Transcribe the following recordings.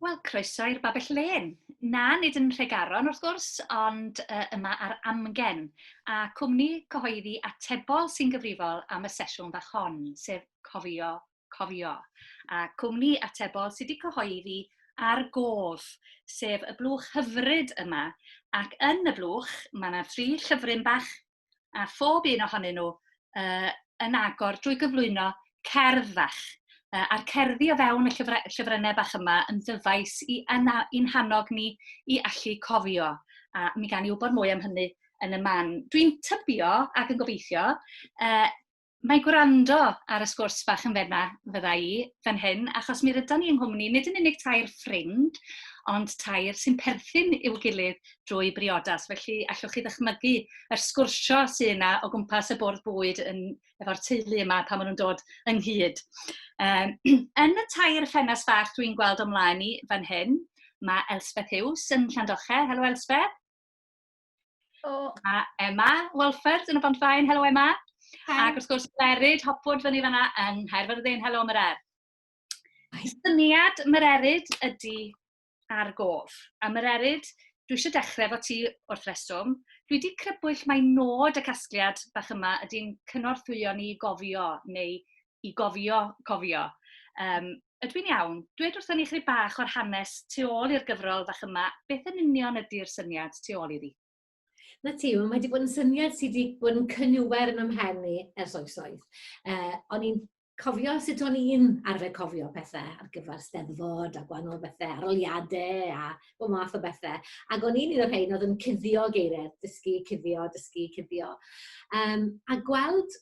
Wel, croeso i'r Babell Len. Na, nid yn Nhregaron wrth gwrs, ond uh, yma ar Amgen, a cwmni cyhoeddi atebol sy'n gyfrifol am y sesiwn fach hon, sef Cofio, Cofio, a cwmni atebol sydd wedi cyhoeddi ar gof, sef y blwch hyfryd yma, ac yn y blwch mae yna tri llyfryn bach a phob un ohonyn nhw uh, yn agor drwy gyflwyno cerdd fach. Uh, a'r cerddi o fewn y llyfra, llyfrennau bach yma yn ddyfais i i'n hannog ni i allu cofio. A mi gan i wybod mwy am hynny yn y man. Dwi'n tybio ac yn gobeithio uh, Mae gwrando ar y sgwrs bach yn fenna, fydda i, fan hyn, achos mi rydan ni yng nghwmni nid yn unig tair ffrind, ond tair sy'n perthyn i'w gilydd drwy briodas. Felly, allwch chi ddychmygu yr sgwrsio sy'n yna o gwmpas y bwrdd bwyd yn, efo'r teulu yma pan maen nhw'n dod ynghyd. Um, yn y tair ffenast fach dwi'n gweld o'm mlaen i fan hyn, mae Elspeth Hughes yn Llandoche. Helo Elspeth. Oh. A Emma Walford yn y Bonfaen, helo Emma. Hi. Ac wrth gwrs, Merid Hopwood fyny fanna yn Nghaerfyrddin, helo Mered. Syniad Mererid ydy ar gof. A Mererid, dwi eisiau dechrau fo ti wrth reswm. Dwi wedi crybwyll mai nod y casgliad bach yma ydy'n cynorthwyo ni gofio neu i gofio, cofio. Um, ydw i'n iawn? Dwed wrthyn ni chyd bach o'r hanes tu ôl i'r gyfrol fach yma, beth yn union ydy'r syniad tu ôl iddi? Na ti, mae wedi bod yn syniad sydd wedi bod yn cynniwer yn ymhen ni ers oesoedd. Uh, o'n i'n cofio sut o'n i'n arfer cofio pethau ar gyfer steddfod a gwahanol bethau, aroliadau a bod math o bethau. Ac o'n i'n un o'r rhain oedd yn cuddio geiriau, dysgu, cuddio, dysgu, cuddio. Um, a gweld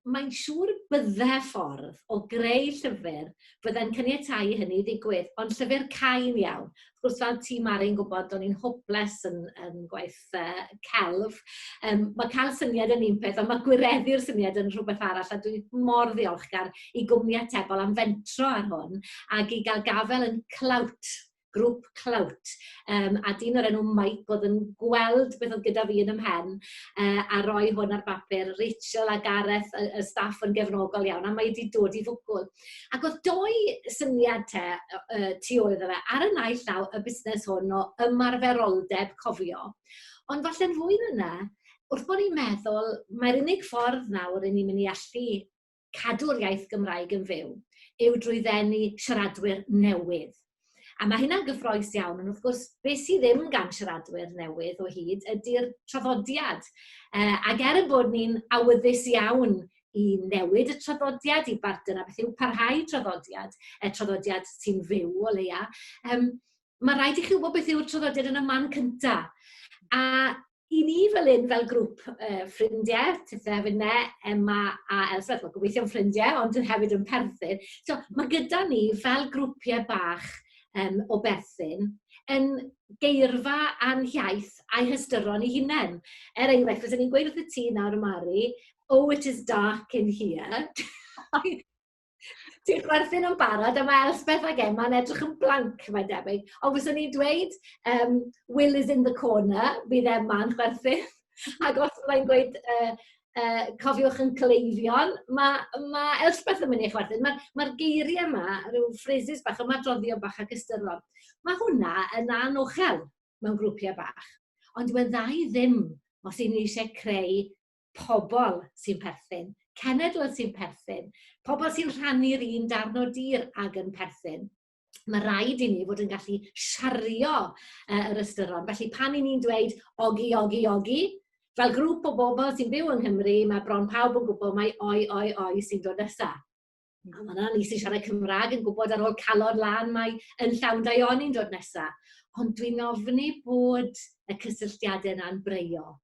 mae'n siŵr y bydde ffordd o greu llyfr fydde'n caniatáu i hynny ddigwydd, ond llyfr cain iawn. Wrth gwrs, fel ti, Mari'n gwybod, o'n i'n hoples yn, yn gwaith uh, celf. Um, mae cael syniad yn un peth, ond mae gwireddu'r syniad yn rhywbeth arall, a dwi mor ddiolchgar i gwmni atebol am fentro ar hwn, ac i gael gafel yn clywt grŵp Clout yym a dyn o'r enw Mike o'dd yn gweld beth o'dd gyda fi yn 'y mhen yy a roi hwn ar bapur. Rachel a Gareth y y staff yn gefnogol iawn a mae 'di dod i fwgwl. Ac o'dd dou syniad 'te o- yy tu ôl iddo fe. Ar y naill llaw y busnes hwn o ymarferoldeb cofio ond falle'n fwy na 'na wrth bo' ni'n meddwl mai'r unig ffordd nawr 'yn ni myn' i allu cadw'r iaith Gymraeg yn fyw yw drwy ddenu siaradwyr newydd. A mae hynna'n gyffroes iawn, ond wrth gwrs, beth sydd ddim gan siaradwyr newydd o hyd ydy'r traddodiad. Uh, ac er yn bod ni'n awyddus iawn i newid y traddodiad, i bartner a beth yw parhau traddodiad, y traddodiad sy'n fyw o leia, um, mae rhaid i chi wybod beth yw'r traddodiad yn y man cynta. A i ni fel un, fel grŵp uh, ffrindiau, ti'n hefyd ne, Emma a Elsbeth, mae'n gobeithio'n ffrindiau, ond yn hefyd yn perthyn. So, mae gyda ni fel grwpiau bach um, o berthyn yn geirfa a'n hiaith a'i hystyron i hunain. Er enghraifft, fydden ni'n gweud wrth y ti nawr, Mari, oh, it is dark in here. Ti'n chwerthin yn barod a mae Elspeth ac Emma'n edrych yn blank, mae'n debyg. Ond fyswn i'n dweud, um, Will is in the corner, bydd Emma'n chwerthin. Ac os byddai'n gweud, uh, uh, cofiwch yn cleifion, mae ma Elspeth yn mynd i chwerthin. Mae'r ma, geiriau yma, rhyw phrases bach, ymadroddio bach ac ystyron. Mae hwnna yn anochel mewn grwpiau bach. Ond dwi'n dda i ddim os y'n ni eisiau creu pobl sy'n perthyn, cenedl sy'n perthyn, pobl sy'n rhannu'r un darn o dir ag yn perthyn. Mae rhaid i ni fod yn gallu siario uh, yr ystyron. Felly pan i ni'n dweud ogi, ogi, ogi, fel grŵp o bobl sy'n byw yng Nghymru, mae bron pawb yn gwybod mai oi, oi, oi sy'n dod nesaf. Wel, mae yna ni sy'n siarad Cymraeg yn gwybod ar ôl calon lan mae yn llawn daioni'n dod nesa. Ond dwi'n ofni bod y cysylltiadau yna'n breio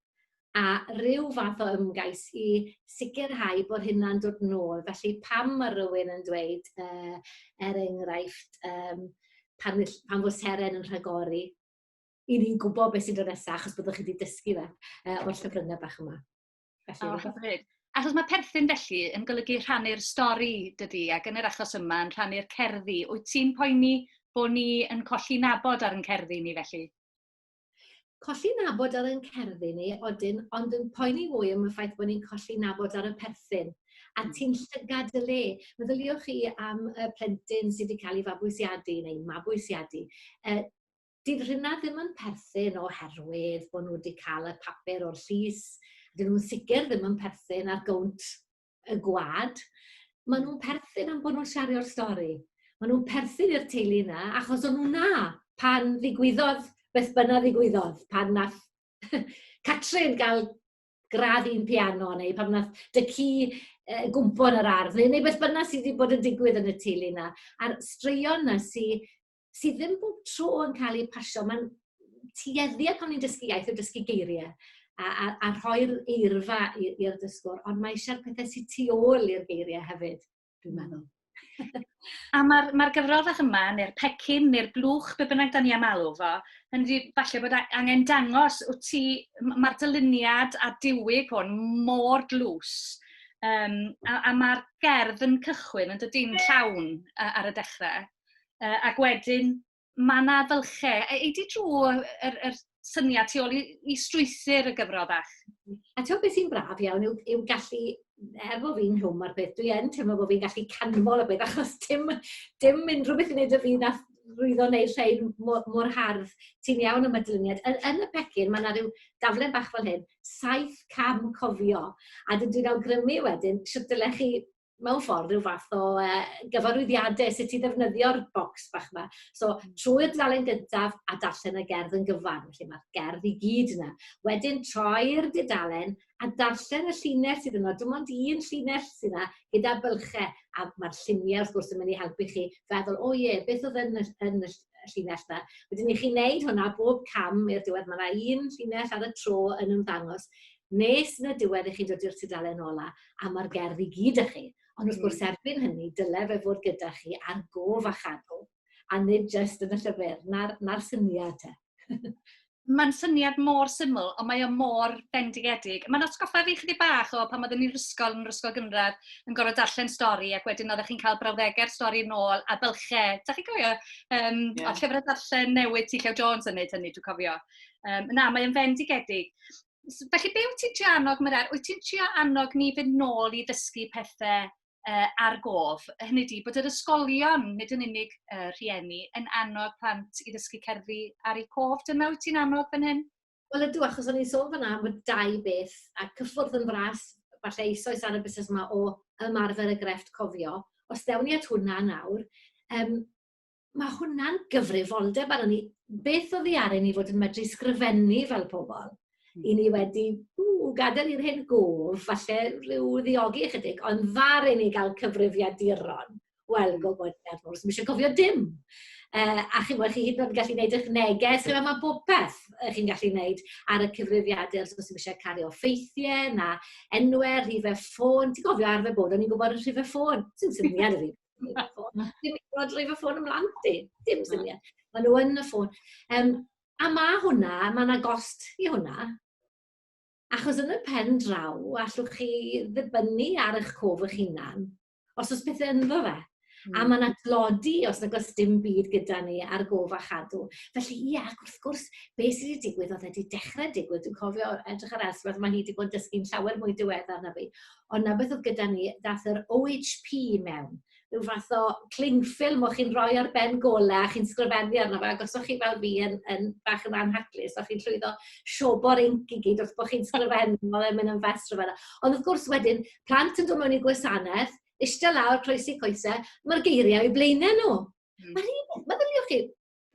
a rhyw fath o ymgais i sicrhau bod hynna'n dod nôl. Felly pam mae rhywun yn dweud, uh, er enghraifft, um, pan, pan fod seren yn rhagori, i ni'n gwybod beth sy'n dod nesaf achos byddwch chi wedi dysgu fe uh, o'r llyfryngau bach yma. Felly, oh, hyfryd. Achos mae perthyn felly yn golygu rhannu'r stori dydy, ac yn yr achos yma yn rhannu'r cerddi. Wyt ti'n poeni bod ni yn colli nabod ar yn cerddi ni felly? Colli nabod ar yn cerddi ni, odyn, ond yn poeni fwy am y ffaith bod ni'n colli nabod ar y perthyn. A hmm. ti'n llygad y le. Meddyliwch chi am y plentyn sydd wedi cael ei fabwysiadu neu mabwysiadu. Uh, Dyw rheina ddim yn perthyn oherwydd bod nhw 'di cael y papur o'r llys. Dyn nhw'n sicr ddim yn perthyn ar gownt y gwlad. Maen nhw'n perthyn am bod nhw'n siario'r stori. Maen nhw'n perthyn i'r teulu yna, achos o'n nhw 'na pan ddigwyddodd beth bynnag ddigwyddodd, pan nath Catrin gael gradd un piano, neu pan nath dy ci uh, gwmpo yn yr ardd, neu, neu beth bynnag sydd wedi bod yn digwydd yn y teulu yna. A'r straeon yna sydd sydd ddim bob tro yn cael eu pasio. Mae'n tueddiad pan ni'n dysgu iaith o dysgu geiriau a, a, a rhoi'r eirfa i'r dysgwr, ond mae eisiau'r pethau sy'n tu ôl i'r geiriau hefyd, dwi'n meddwl. a mae'r mae gyfrol fach yma, neu'r pecyn, neu'r blwch, be bynnag da ni am alw fo, yn di, falle bod angen dangos, wyt ti, mae'r dyluniad a diwyg hwn mor dlws, um, a, a mae'r gerdd yn cychwyn yn dydy'n llawn ar y dechrau. Yy ac wedyn mae 'na fylche. A ei di drwy yr yr syniad tu ôl i i strwythur y gyfrol fach? A t'wod be' sy'n braf iawn yw yw gallu er bo' fi'n nhwm ar peth dwi yn teimlo bo' fi'n gallu canmol y peth achos dim dim unrhyw beth i neud â fi nath rwyddo neu rhein mo- mor hardd. Ti'n iawn am y dyluniad. Yn yn y pecyn ma' 'na ryw daflen bach fel hyn, saith cam cofio a dwi dwi'n awgrymu wedyn shwt dylech chi mewn ffordd, rhyw fath o yy gyfarwyddiadau sut i ddefnyddio'r bocs bach 'ma. So hmm. trwy'r dudalen gyntaf a darllen y gerdd yn gyfan, felly mae'r gerdd i gyd yna. Wedyn troi'r dudalen a darllen y llinell sydd yna. Dim ond un llinell sydd yna gyda bylchau a mae'r lluniau wrth gwrs yn mynd i helpu chi feddwl, o ie, beth oedd yn y, yn y llinell yna. Wedyn i chi wneud hwnna bob cam i'r diwedd, mae yna un llinell ar y tro yn ymddangos nes yn y diwedd i chi'n dod i'r tudalen ola. a ma'r gerdd i gyd 'da chi. Ond wrth gwrs erbyn hynny dyle fe fod gyda chi ar gof a chadw a nid jyst yn y llyfr. Na'r na'r syniad te. Mae'n syniad mor syml, ond mae o mor bendigedig. Mae'n atgoffa fi chydig bach o pan oeddwn i'n rysgol, yn rysgol gynradd, yn gorfod darllen stori, ac wedyn oeddech chi'n cael brawddegau'r stori yn ôl, a bylche. Da chi'n cofio? Um, yeah. O, llyfrau darllen newydd ti Llew Jones yn neud hynny, dwi'n cofio. Um, na, mae'n fendigedig. S- felly, be wyt ti'n trio annog Meleri? Wyt ti'n trio annog ni fynd nôl i ddysgu pethe yy ar gof? Hynny ydi, bod yr ysgolion, nid yn unig y rhieni, yn annog plant i ddysgu cerddi ar eu cof. Dyna wyt ti'n annog fan hyn? Wel ydw, achos o'n i'n sôn fanna am y dau beth, a cyffwrdd yn fras, falle eisoes ar y busnes yma o ymarfer y grefft cofio. Os dewn ni at hwnna nawr, um, ma' hwnna'n gyfrifoldeb arnon ni. Beth oddi aren ni fod yn medru sgrifennu fel pobol? Hmm. 'Yn ni wedi, ww, gadael i'r hyn gof, falle rhyw ddiogi ychydig, ond ddaru ni gael cyfrifiaduron. Wel, hmm. go bod ni ar ôl, ddim eisiau cofio dim. Uh, a chi'n gwybod, chi hyd yn oed yn gallu gwneud eich neges, chi'n mae bob peth chi'n gallu gwneud ar y cyfrifiadur, os ddim eisiau cario ffeithiau, na enwau, rhifau ffôn. Ti'n gofio arfer bod, o'n i'n gwybod y rhifau ffôn, sy'n syniad yr un. Leave a phone. Ti'n rhoi fy ffôn ymlaen di? Dim syniad. Maen nhw yn y ffôn. Um, a mae hwnna, mae yna gost i hwnna. Achos yn y pen draw, allwch chi ddibynnu ar eich cof eich hunan, os oes pethau ynddo fe. Mm. A hmm. mae yna glodi os nag oes dim byd gyda ni ar gof a chadw. Felly, ie, yeah, ac wrth gwrs, be sydd wedi digwydd oedd wedi dechrau digwydd. Dwi'n cofio edrych ar Elspeth, mae hi wedi bod yn dysgu'n llawer mwy diweddar na fi. ond 'na beth o'dd gyda ni, dath yr OHP mewn, ryw fath o cling film o'ch chi'n roi ar ben gole a chi'n sgrifennu arno fe, ac os o'ch chi fel fi yn yn bach yn anhapus, o'ch chi'n llwyddo siobo'r inc i gyd wrth bo' chi'n sgrifennu, ma' fe'n myn' yn fast rhyfedda. Ond wrth gwrs wedyn, plant yn do' mewn i'r gwasaneth, ishte lawr, croesi coese, ma'r geirie o'u blaene nw. Hmm. Ma'r un peth, meddyliwch chi,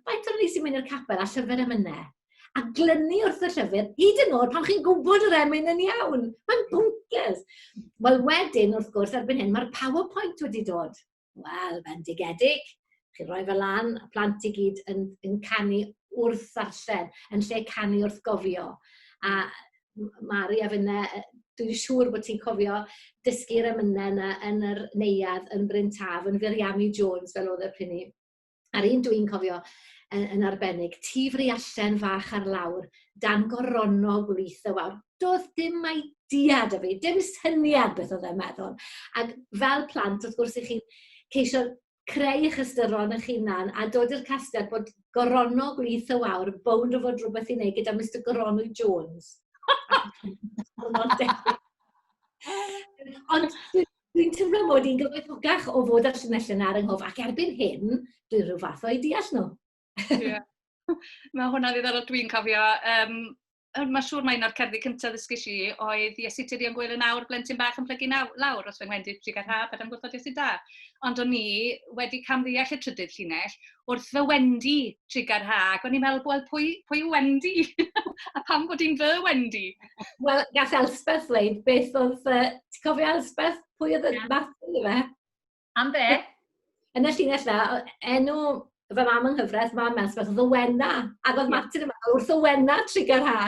Faint o'n ni sy'n mynd i'r capel a llyfr emynau? A glynu wrth y llyfr, hyd yn oed pan chi'n gwybod yr emyn yn iawn. Mae'n bwnces. Wel, wedyn, wrth gwrs, erbyn hyn, mae'r PowerPoint wedi dod. Wel, bendigedig. Chi'n rhoi fe lan, a plant i gyd yn, yn canu wrth ddarllen, yn lle canu wrth gofio. A Mari a finne, dwi'n siŵr bod ti'n cofio dysgu'r emynau yna yn yr neuad yn Bryn Taf, yn Firiami Jones, fel oedd y pryn A'r un dwi'n cofio yn, yn arbennig, ti fri allan fach ar lawr, dan goronog wlith y wawr. Doedd dim mai diad o fi, dim syniad beth oedd e'n meddwl. Ac fel plant, wrth gwrs, i chi ceisio creu eich ystyron eich hunan a dod i'r casgliad bod goronog wlith y wawr yn bownd o fod rhywbeth i wneud gyda Mr Goronwy Jones. Ond Dwi'n teimlo mod i'n gyfoethocach o fod y llinell yna ar 'y nghof, ac erbyn hyn, dwi rhyw fath o'u deall nhw. Ie. Mae hwnna'n ddiddorol. Dwi'n cofio, um, mae'n siŵr mae un o'r cerddi cyntaf ddysgais i oedd Iesu Tirion Gwyl yn awr, blentyn bach yn plygu naw, lawr os fy nghendid prig ar haf, ar ymgwrthod Iesu da. Ond o'n i wedi camddeall y trydydd llinell, wrth fy Wendy trigger ha, ac o'n i'n meddwl, "wel pwy pwy yw Wendy? a pam bod hi'n fy Wendy? Wel, gall Elspeth ddweud beth oedd... Yy ti'n cofio Elspeth? Pwy oedd y yeah. Matthew yma? Am be? Yn y llinell dda, enw fy mam yng nghyfraith, mam Elspeth, oedd y Wena. Ac oedd Martin yma wrth y Wena trigger ha.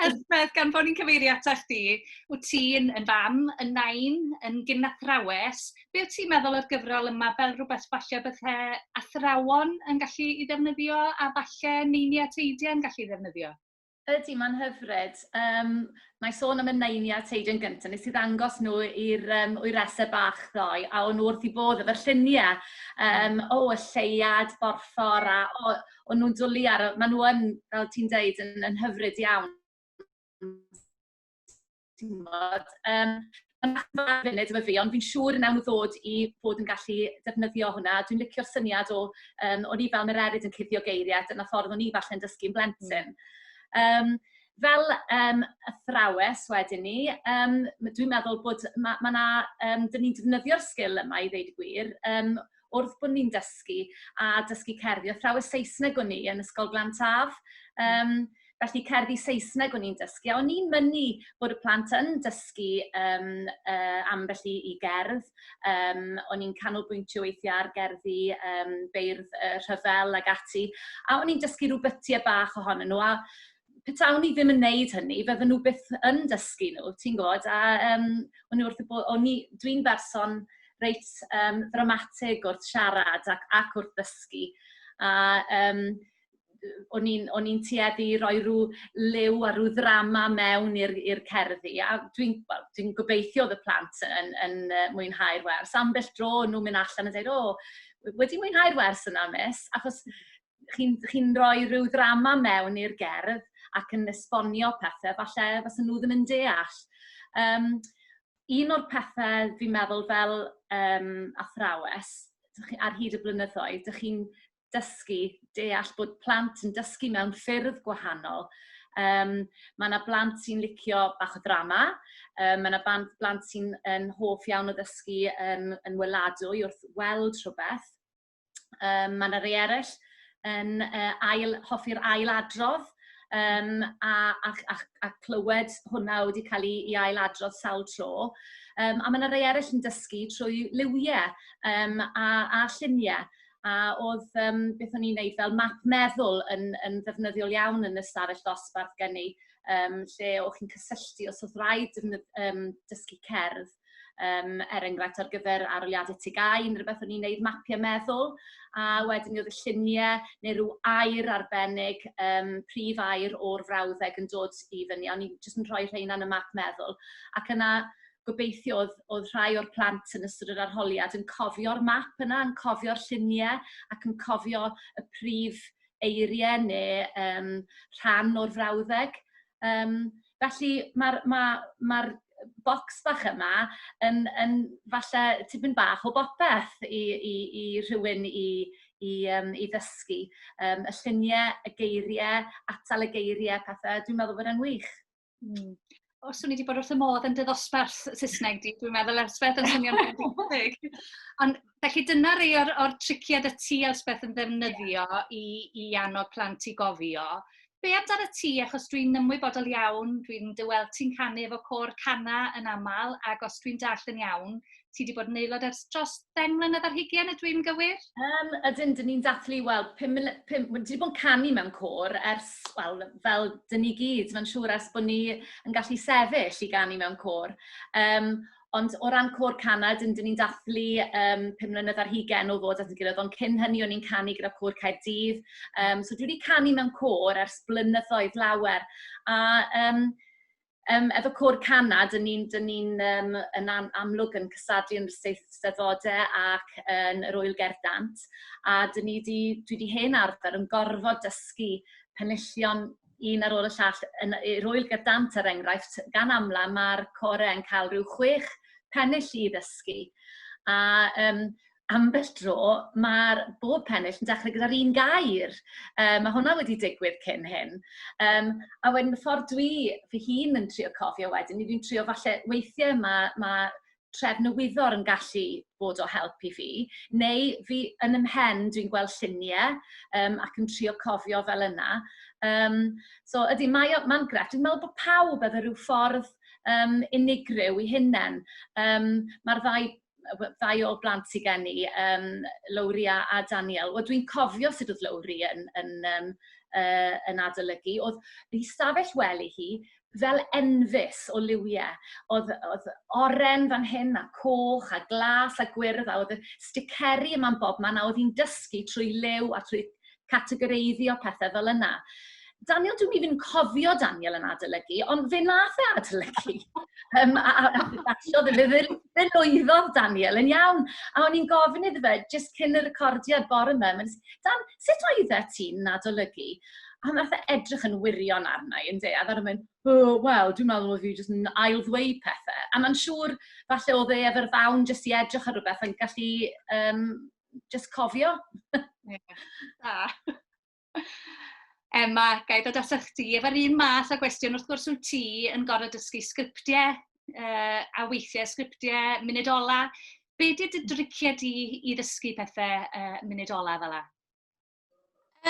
Elspeth, gan bod ni'n cyfeirio ato chdi, wyt ti'n yn fam, yn nain, yn gynathrawes. Be wyt ti'n meddwl o'r gyfrol yma fel rhywbeth falle bydde athrawon yn gallu ei ddefnyddio a falle neini a teidiau yn gallu ei ddefnyddio? Ydy, mae'n hyfryd. Um, mae sôn am y naini a teidiau'n gyntaf, nes i ddangos nhw i'r um, wyresau bach ddoe, a o'n nhw wrth i bodd efo'r lluniau. Um, o, y lleiad, borffor, a o, o'n nhw'n dwlu ar... maen nhw yn, fel ti'n deud, yn yn hyfryd iawn timod. Yym, maen nhw'n bach yn funud efo fi, ond fi'n siŵr wnawn nhw ddod i fod yn gallu defnyddio hwnna. Dwi'n licio'r syniad o, yym, o'n i fel yr eryr yn cuddio geiriau, dyna ffordd o'n i falle'n dysgu'n blentyn. Yym, fel yym athrawes wedyn ni, yym, dwi'n meddwl bod... ma' ma' 'na... yym, 'dyn ni'n defnyddio'r sgil yma i ddweud y gwir. Yym... wrth bod ni'n dysgu a dysgu cerddi. Athrawes Saesneg o'n i yn Ysgol Glan Taf, um, felly cerddi Saesneg o'n i'n dysgu. A o'n i'n mynnu bod y plant yn dysgu um, uh, ambell i, i gerdd. Um, o'n i'n canolbwyntio weithiau ar gerddi um, beirdd uh, rhyfel ag ati. A o'n i'n dysgu rhywbeth tua bach ohonyn nhw. A petawn ni ddim yn wneud hynny, fydden nhw byth yn dysgu nhw, ti'n gwybod. A yym o'n nhw wrth eu bodd... o'n i... dwi'n berson reit yym ddramatig wrth siarad ac ac wrth ddysgu. A yym o'n i'n o'n i'n tueddu i roi ryw liw a ryw ddrama mewn i'r i'r cerddi. A dwi'n, wel, dwi'n gobeithio oedd y plant yn yn yy mwynhau'r wers. Ambell dro o'n nhw'n mynd allan a deud, "O, wedi mwynhau'r wers yna, Miss?" Achos... chi'n chi'n rhoi rhyw ddrama mewn i'r gerdd ac yn esbonio pethe falle fysen nhw ddim yn deall. Yym, un o'r pethe fi'n meddwl fel yym, athrawes, ar hyd y blynyddoedd, dych chi'n dysgu deall bod plant yn dysgu mewn ffyrdd gwahanol. Um, mae yna blant sy'n licio bach o ddrama, um, mae yna blant, blant sy'n hoff iawn o ddysgu yn, yn weladwy wrth weld rhywbeth, Um, mae yna rei eraill yn uh, ail, hoffi'r ail adrodd um, a, a, a, a clywed hwnna wedi cael ei, ei ail adrodd sawl tro. Um, a mae yna rei eraill yn dysgu trwy liwiau um, a, a lluniau. A oedd um, beth o'n i'n neud fel map meddwl yn, yn ddefnyddiol iawn yn y stafell ddosbarth gen i, um, lle o'ch chi'n cysylltu os oedd rhaid um, dysgu cerdd Um, er enghraifft ar gyfer aroliadau tegau, yn rhywbeth o'n i'n neud mapiau meddwl, a wedyn oedd y lluniau neu rhyw air arbennig, um, prif air o'r frawddeg yn dod i fyny, o'n i'n jyst yn rhoi rheina yn y map meddwl. Ac yna gobeithio oedd, oedd rhai o'r plant yn ystod yr arholiad yn cofio'r map yna, yn cofio'r lluniau ac yn cofio y prif eiriau neu um, rhan o'r frawddeg. Um, Felly mae'r ma' mae'r bocs bach yma yn yn falle tipyn bach o bopeth i i i rhywun i i yym i ddysgu yym y llunie y geirie atal y geirie a pethe dwi'n meddwl bod e'n wych. Hmm. O swn i 'di bod wrth fy modd yn dy ddosbarth Saesneg di dwi'n meddwl ers byth yn swnio'n fendigedig. Ond Felly dyna rei o'r, or triciau y ti, Elspeth, yn ddefnyddio yeah. i, i annog plant i gofio. Be amdano ti, achos dwi'n ymwybodol iawn, dwi'n dyweld ti'n canu efo cor canna yn aml, ac os dwi'n dall yn iawn, ti wedi bod yn aelod ers dros ddeng mlynedd ar hugen, y dwi'n gywir? Um, ydyn, dyn ni'n dathlu, wel, pum, pum, dyn ni bod yn canu mewn cor ers, wel, fel dyn ni gyd, mae'n siŵr ers bod ni yn gallu sefyll i ganu mewn cor. Um, Ond o ran côr canau, dan ni'n dathlu yym pum mlynedd ar hugain o ddod at ein gilydd, ond cyn hynny o'n ni'n canu gyda Côr Caerdydd. Yym so dwi wedi canu mewn côr ers blynyddoedd lawer. A yym yym efo côr canau, dan ni'n dan ni'n yym yn am, amlwg yn cystadlu yn y Eisteddfodau ac yn yr Ŵyl Gerdant. A dan ni wedi, dwi wedi hen arfer yn gorfod dysgu penillion un ar ôl y llall, yn yy i'r ŵyl gyda dant er enghraifft, gan amla ma'r core yn cael rhyw chwech pennill i ddysgu. A yym ambell dro ma'r bob pennill yn dechrau gyda'r un gair. Yym ma' hwnna wedi digwydd cyn hyn. Yym a wedyn y ffordd dwi fy hun yn trio cofio wedyn, 'y fi'n trio falle... weithiau ma' ma' tref Newyddor yn gallu bod o help i fi, neu fi yn ym mhen dwi'n gweld lluniau um, ac yn trio cofio fel yna. Um, so ydy, mae'n mae grefft. Dwi'n meddwl bod pawb efo rhyw ffordd um, unigryw i hunain. Um, Mae'r ddau ddau o blant sydd gen i, um, Lowria a Daniel. Wel, dwi'n cofio sut oedd Lowri yn, yn, um, uh, yn adolygu. Oedd hi stafell wely hi, fel enfys o liwie. Oedd, oedd oren fan hyn, a coch, a glas, a gwyrdd, a oedd y sticeri yma'n bob man, a oedd hi'n dysgu trwy liw a trwy categoreiddio pethau fel yna. Daniel, dwi'n mynd i'n cofio Daniel yn adolygu, ond fe nath e adolygu. um, a, a, a, a fe ddelwyddodd Daniel yn iawn. A o'n i'n gofyn iddo fe, jyst cyn y recordiad bore yma, Dan, sut oeddet ti'n adolygu? A wnaeth e edrych yn wirion arna i, ynde, a ddaru mynd, o, wel, dwi'n meddwl oedd fi jyst yn ail-ddweud pethau. A mae'n siŵr, falle oedd e efo'r ddawn jyst i edrych ar rhywbeth yn gallu um, jyst cofio. Da. Emma, gai ddod atach chdi efo'r un math o gwestiwn, wrth gwrs wyt ti yn gorfod dysgu sgriptiau yy, a weithiau sgriptiau munud ola. Be di dy driciau di i ddysgu pethau uh, munud ola fel la?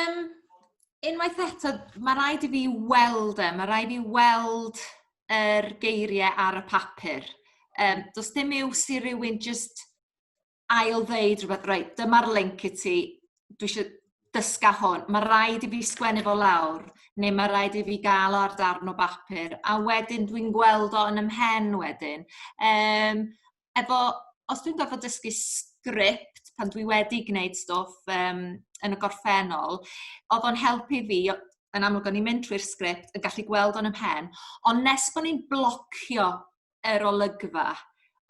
Um, unwaith eto, mae rhaid i fi weld e, mae rhaid i fi weld yr er geiriau ar y papur. Um, does dim iws i rywun just ail ddeud rhywbeth, reit, dyma'r link i ti, dwi eisiau dysga hwn, mae rhaid i fi sgwennu fo lawr, neu mae rhaid i fi gael o ar darn o bapur, a wedyn dwi'n gweld o yn ymhen wedyn. Um, efo, os dwi'n gorfod dysgu sgript pan dwi wedi gwneud stwff um, yn y gorffennol, oedd o'n helpu fi, yn amlwg o'n i'n mynd trwy'r sgript, yn gallu gweld o'n ymhen, ond nes bod ni'n blocio yr olygfa,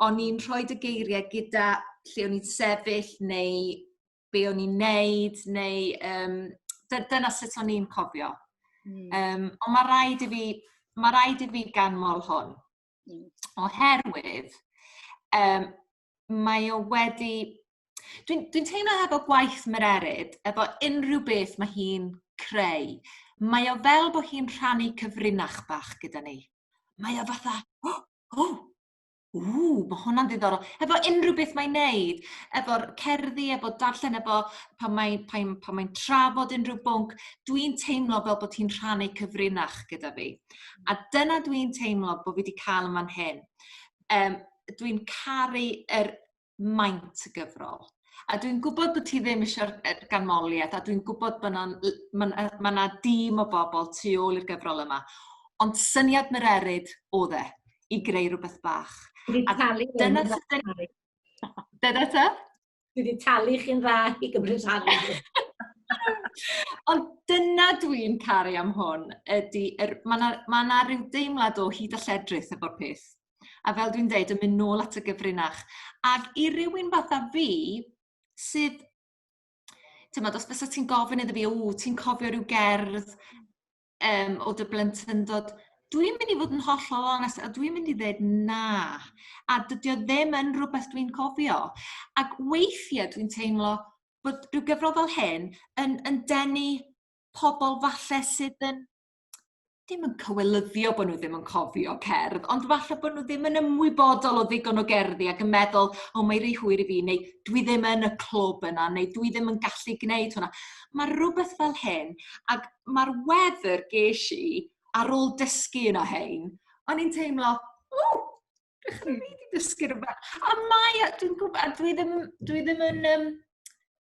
o'n i'n rhoi y geiriau gyda lle o'n i'n sefyll neu be o'n i'n neud, neu um, dyna sut o'n i'n cofio. Mm. Um, ond mae rhaid i fi, mae rhaid i fi ganmol hwn. Mm. Oherwydd, um, mae o wedi... Dwi'n dwi teimlo hefo gwaith Mererid, efo unrhyw beth mae hi'n creu, mae o fel bod hi'n rhannu cyfrinach bach gyda ni. Mae o fatha, oh, oh, ww, mae hwnna'n ddiddorol. Efo unrhyw beth mae'n neud, efo'r cerddi, efo darllen, efo pan mae'n mae, pan mae trafod unrhyw bwnc, dwi'n teimlo fel bod hi'n rhannu cyfrinach gyda fi. A dyna dwi'n teimlo bod fi wedi cael yma'n hyn. Yym dwi'n caru yr maint y gyfrol. A dwi'n gwbod bo' ti ddim isio'r yy ganmolieth a dwi'n gwbod bo' 'na l- ma' 'na ma' 'na dîm o bobol tu ôl i'r gyfrol yma ond syniad Mererid o'dd e i greu rwbeth bach. Fi 'di talu... A dyna sut 'dan ni... ...dyna ta? Dwi wedi talu chi'n dda i gymryd rhan. Ond dyna dwi'n caru am hwn, ydy, er, mae yna ma na rhyw deimlad o hyd a lledrith efo'r peth. A fel dwi'n deud, yn mynd nôl at y gyfrinach. Ac i rywun fatha fi, sydd... Tyma, os bys ti'n gofyn iddo fi, o, ti'n cofio rhyw gerdd um, o dy blentyndod, dwi'n mynd i fod yn hollol onest, a dwi'n mynd i ddweud na. A dydy o ddim yn rhywbeth dwi'n cofio. Ac weithiau dwi'n teimlo bod rhyw gyfrol fel hyn yn, yn denu pobl falle sydd yn ddim yn cywelyddio bod nhw ddim yn cofio cerdd, ond falle bod nhw ddim yn ymwybodol o ddigon o gerddi ac yn meddwl, o mae rhy hwyr i fi, neu dwi ddim yn y clwb yna, neu dwi ddim yn gallu gwneud hwnna. Mae rhywbeth fel hyn, ac ma'r wefr ges i ar ôl dysgu un o 'hein, o'n i'n teimlo, ww, dwi rili 'di dysgu rwbeth. A mae o, dwi'n gwb- a dwi ddim dwi ddim yn yym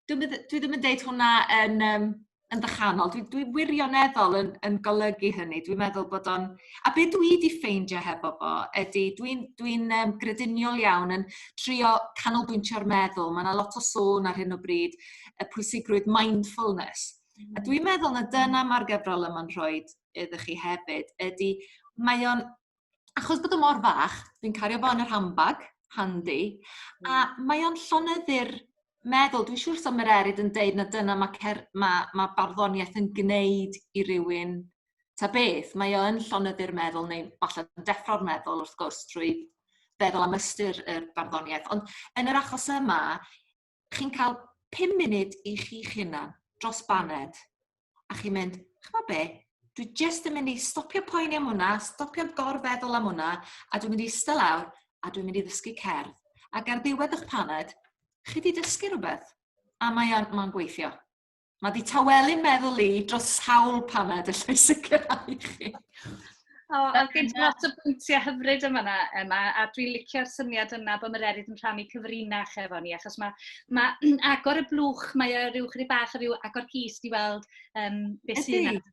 dwi bydd- dwi ddim yn deud hwnna yn yym yn dychanol. Dwi dwi wirioneddol yn yn golygu hynny. Dwi'n meddwl bod o'n... A be dwi 'di ffeindio hefo fo ydy dwi'n dwi'n yym grediniol iawn yn trio canolbwyntio'r meddwl. Mae 'na lot o sôn ar hyn o bryd y pwysigrwydd mindfulness. A dwi'n meddwl na dyna ma'r gyfrol yma'n rhoi iddo chi hefyd ydi mae o'n achos bod o mor fach, dwi'n cario fo yn yr handbag, handi, a hmm. mae o'n llonyddu'r meddwl, dwi'n siŵr sa Mererid yn deud na dyna mae cer- ma' ma' barddoniaeth yn gwneud i rywun ta beth. Mae o yn llonyddu'r meddwl neu falle yn deffro'r meddwl wrth gwrs trwy feddwl am ystyr y barddoniaeth. Ond yn yr achos yma, chi'n cael pum munud i chi'ch hunan dros baned, a chi'n mynd, ch'mo' be', dwi jyst yn mynd i stopio poeni am wnna, stopio gorfeddwl am wnna, a dwi'n mynd i ista lawr a dwi'n mynd i ddysgu cerdd. Ac ar ddiwedd 'ych paned, chi 'di dysgu rwbeth, a mae o'n ma'n gweithio. Mae di tawelu meddwl i dros sawl paned, allai e sicrhau i chi. O, a gen ti lot o bwyntiau hyfryd yma yna, Emma, a dwi'n licio'r syniad yna bod mae'r erydd yn rhannu cyfrinach efo ni, achos mae, mae agor y blwch, mae o rhyw chydig bach o ryw agor cys di weld um, beth sy'n yna.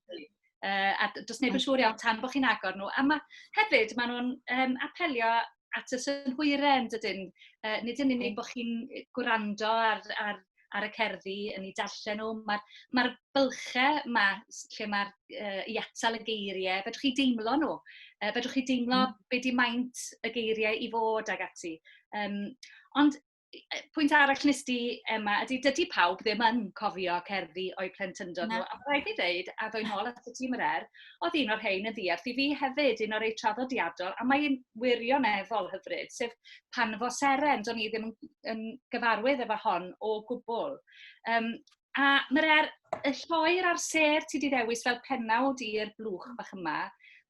Uh, a does neb yn siŵr iawn tan bod chi'n agor nhw. A ma, hefyd, maen nhw'n um, apelio at y synhwyren, dydyn. Uh, nid yn unig bod chi'n gwrando ar, ar, ar y cerddi yn ei darllen nhw, mae'r ma, bylchau yma lle mae'r uh, i atal y geiriau, fedrwch chi deimlo nhw. Uh, fedrwch chi deimlo mm. beth di maint y geiriau i fod ag ati. Um, ond pwynt arall wnes di, Emma, ydy, dydy pawb ddim yn cofio cerddi o'u plentyndod nhw. A rhaid i ddeud, a ddwy'n ôl at y tîm yr er, oedd un o'r rhain yn ddiarth i fi hefyd, un o'r ei traddodiadol, a mae'n wirioneddol hyfryd, sef pan fo seren, do'n i ddim yn, yn gyfarwydd efo hon o gwbl. Um, A mae'r er- y lloer a'r sêr ti 'di ddewis fel pennawd i'r blwch bach yma.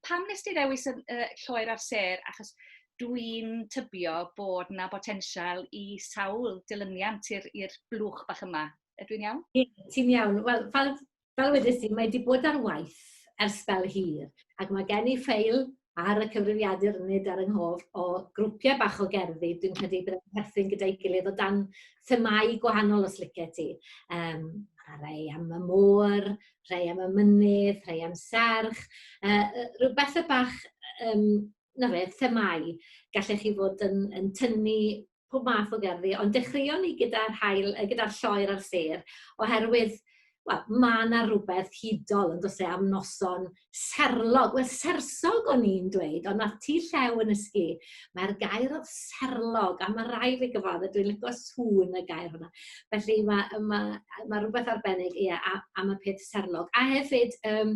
Pam wnes ti ddewis y y lloer a'r sêr? Achos dwi'n tybio bod 'na botensial i sawl dilyniant i'r i'r blwch bach yma. Ydw i'n iawn? Ie, ti'n iawn. Wel, fel fel wedes di, mae 'di bod ar waith ers sbel hir, ac mae gen i ffeil ar y cyfrifiadur nid ar 'y nghof, o grwpiau bach o gerddi, dwi'n credu byddai'n perthyn gyda'i gilydd o dan themâu gwahanol os lice ti. Um, a rhai am y môr, rhai am y mynydd, rhai am serch, uh, rhyw bethau bach, um, na fe, themau. Gallech chi fod yn, yn tynnu pob math o gerddi, ond dechreuon ni gyda'r haul, yy gyda'r lloer a'r sêr, oherwydd, wel, ma' 'na rwbeth hudol on'd o's e am noson serlog, wel sersog o'n i'n dweud, ond nath Tŷ Llew yn nysgu, mae'r gair o'dd serlog, a ma' rai' fi gyfadde dwi'n lico sŵn y gair yma. Felly ma' yy ma' yy ma' rwbeth arbennig, ie, a- am y peth serlog. A hefyd yym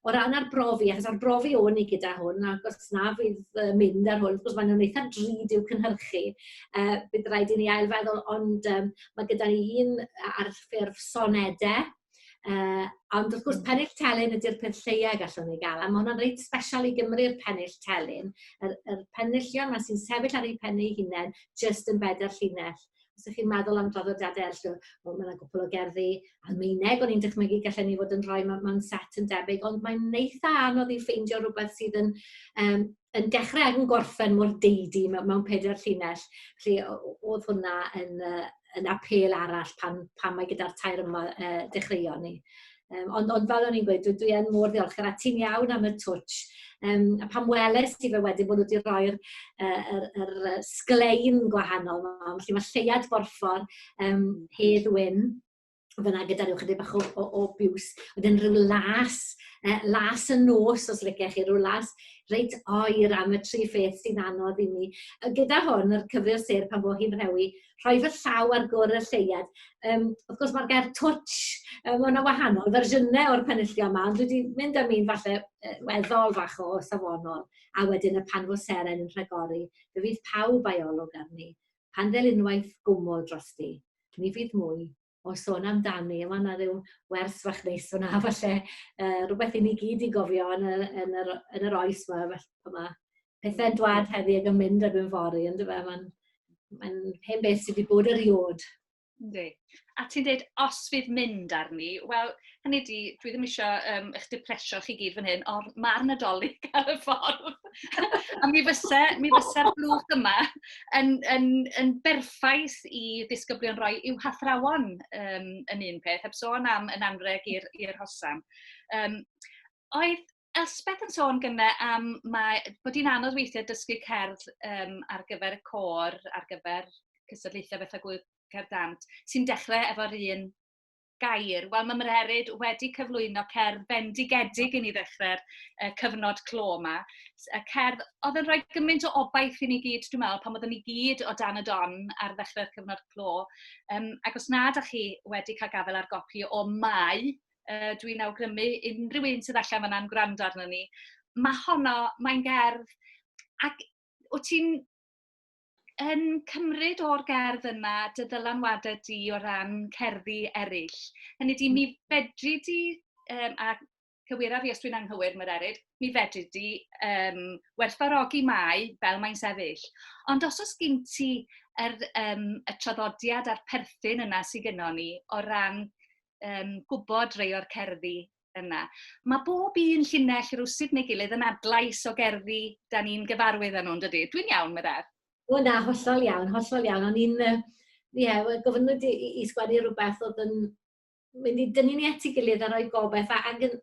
O ran arbrofi, achos arbrofi o'n i gyda hwn, ac os na fydd yy mynd ar hwn, wrth gwrs maen nhw'n eitha drud i'w cynhyrchu, yy bydd raid i ni ail feddwl, ond yym ma' gyda ni un a- ar ffurf sonede, yy ond wrth gwrs pennill telyn ydi'r peth lleia gallwn ni ga'l, a ma' hwnna'n reit sbesial i Gymru'r pennill telyn, yr yr penillion 'ma sy'n sefyll ar eu pen eu hunen jyst yn bedair llinell. os 'ych chi'n meddwl am draddodiade ellsworth wel ma' 'na gwpwl o gerddi Almaeneg o'n i'n dychmygu gallen ni fod yn rhoi mew- mewn set yn debyg ond mae'n eitha anodd i ffeindio rwbeth sydd yn yym yn dechre ag yn gorffen mor deidi mew- mewn peder llinell. Felly o- o- o'dd hwnna yn yy yn apêl arall pan pan mae gyda'r tair yma yy dechreuon ni. Um, ond, ond fel o'n i'n gweud, dwi, dwi yn mor ddiolchgar a ti'n iawn am y twtch. Um, a pam weles ti fe wedyn bod nhw wedi rhoi'r uh, er, er sglein gwahanol yma, felly mae lleiad borffor um, Hedd Wyn fyna gyda rhyw chydig bach o, o, o biws. Wedyn rhyw las, uh, las y nos os lyciach chi, rhyw las reit oer am y tri pheth sy'n anodd i mi. Gyda hwn, yr cyfrif sêr pan fo hi'n rhewi, rhoi fy llaw ar gwr y lleuad. Um, wrth gwrs, mae'r gair twtsh, um, mae yna wahanol fersiynau o'r penillio yma, ond dwi wedi mynd am un falle uh, weddol fach o safonol, a wedyn y pan fo seren yn rhagori, fe fydd pawb a'i olwg arni, pan fel unwaith gwmwl dros di, ni fydd mwy o sôn amdani a ma' 'na ryw wers fach neis fyn 'na falle yy rwbeth i ni gyd 'i gofio yn y yn yr yn yr oes 'ma fell- fel 'ma. Pethe'n dwad heddi ag yn mynd erbyn fory on'd yfe ma'n ma'n hen beth sy 'di bod eriôd. Yndi. A ti'n deud os fydd mynd arni wel hynny ydi, dwi ddim isio yym eich dipresio chi gyd fan hyn, ond ma'r Nadolig ar y ffordd. a mi fyse, mi fyse'r blwch yma yn, yn, yn berffaith i ddisgyblion roi i'w hathrawon um, yn un peth, heb sôn am yn anreg i'r hosan. Um, oedd Elspeth yn sôn gyda am mae, bod hi'n anodd weithiau dysgu cerdd um, ar gyfer y côr, ar gyfer cystadlaethau bethau gwyl cerdd dant, sy'n dechrau efo'r un gair. Wel, mae Mhererid wedi cyflwyno cerdd bendigedig i ni ddechrau'r uh, cyfnod clo yma. Y cerdd oedd yn rhoi gymaint o obaith i ni gyd, dwi'n meddwl, pan oeddwn ni gyd o dan y don ar ddechrau'r cyfnod clo. Um, ac os nad ydych chi wedi cael gafael ar gopi o Mai, uh, dwi'n awgrymu unrhyw un sydd allan fanna'n gwrando arno ni, mae honno, mae'n gerdd, ac wyt ti'n yn cymryd o'r gerdd yna dy ddylanwadau di o ran cerddi eraill. Hynny di, mi fedri di, um, a cywira fi os dwi'n anghywir, mae'r erid, mi fedri di um, werthfarogi mai fel mae'n sefyll. Ond os oes gen ti er, um, y traddodiad a'r perthyn yna sydd gennon ni o ran um, gwybod rei o'r cerddi yna. Mae bob un llinell rywsut neu gilydd yn adlais o gerddi da ni'n gyfarwydd â nhw, yn dydy? Dwi'n iawn, meddaf? O na, hollol iawn, hollol iawn. O'n i'n, ie, yeah, gofynnwyd i, i sgwennu rhywbeth oedd yn mynd i dynnu ni at ei gilydd a rhoi gobeith. A, ac yn,